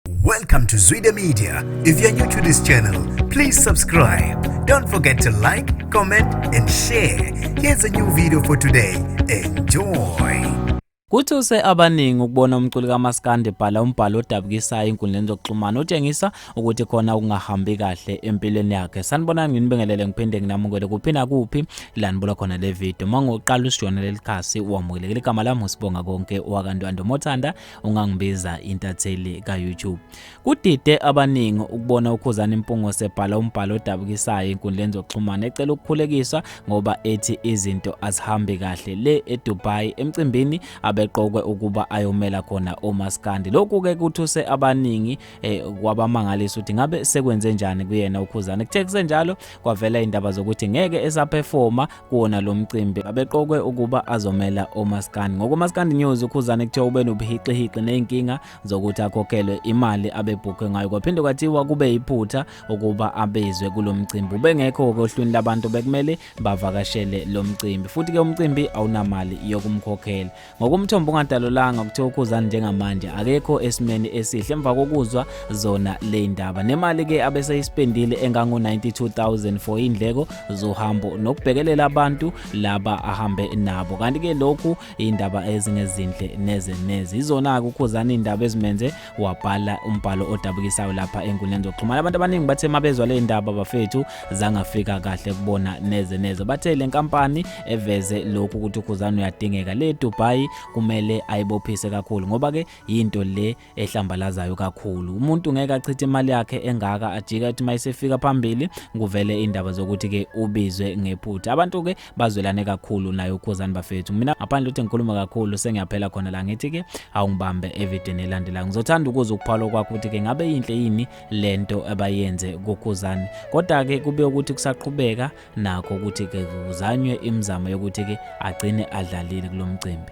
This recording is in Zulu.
Welcome to Zwide Media. If you're new to this channel, please subscribe. Don't forget to like, comment and share. Here's a new video for today. Enjoy. Kuthuse abaningi ukubona umculi kaMaskandi ebhala umbhalo odabukisayo enkundleni zokuxhumana otshengisa ukuthi khona okungahambi kahle empilweni yakhe. Sanibonani nginibingelele ngiphinde nginamukele kuphi nakuphi la nibuka khona le video. Uma ngoqala usijona leli khasi wamukelekile igama lami uSibonga konke wakantwando Mothanda ungangibiza intatheli ka-youtube kudide abaningi ukubona ukhuzani mpungo sebhala umbhalo odabukisayo enkundleni zokuxhumana ecela ukukhulekiswa ngoba ethi izinto azihambi kahle le edubai emcimbini abeqokwe ukuba ayomela khona omaskandi lokhu-ke kuthuse abaningi eh kwabamangalisa ukuthi ngabe sekwenze njani kuyena ukhuzana kuthe kusenjalo kwavela indaba zokuthi ngeke esaperforma kuwona lo mcimbi abeqokwe ukuba azomela omaskandi ngokomaskandi news ukhuzana kuthiwa ube nobuhixihiqi nezinkinga zokuthi akhokhelwe imali abebhukhe ngayo kwaphinde kwathiwa kube iphutha ukuba abezwe kulo mcimbi ubengekho ohlwini labantu bekumele bavakashele lo mcimbi futhi ke umcimbi awunamali yokumkhokhela ngokomthombo ongadalulanga kuthiwa ukhuzani njengamanje akekho esimeni esihle emva kokuzwa zona le ndaba nemali ke abeseyisipendile engango-92000 for indleko zohambo nokubhekelela abantu laba ahambe nabo kanti-ke lokhu iy'ndaba ezingezinhle neze neze izona-ke ukhuzani iy'ndaba ezimenze wabhala umbhalo odabukisayo lapha enkundleni zokuxhumana abantu abaningi bathe mabezwa le ndaba bafethu zangafika kahle kubona neze neze bathe le nkampani eveze lokhu ukuthi ukhuzana uyadingeka le dubai kumele ayibophise kakhulu ngoba ke yinto le ehlambalazayo kakhulu umuntu ngeke achithe imali yakhe engaka ajika ethi mayisefika phambili kuvele indaba zokuthi ke ubizwe ngephutha abantu ke bazwelane kakhulu naye ukhuzani bafethu mina ngaphandle ukuthi ngikhuluma kakhulu sengiyaphela khona la ngithi ke awungibambe evideni elandelayo ngizothanda ukuza ukuphawula kwakho ukuthi ke ngabe yinhle yini lento abayenze kukhuzani kodwa ke kube ukuthi kusaqhubeka nakho ukuthi ke kuzanywe imizamo yokuthi ke agcine adlalile kulomcimbi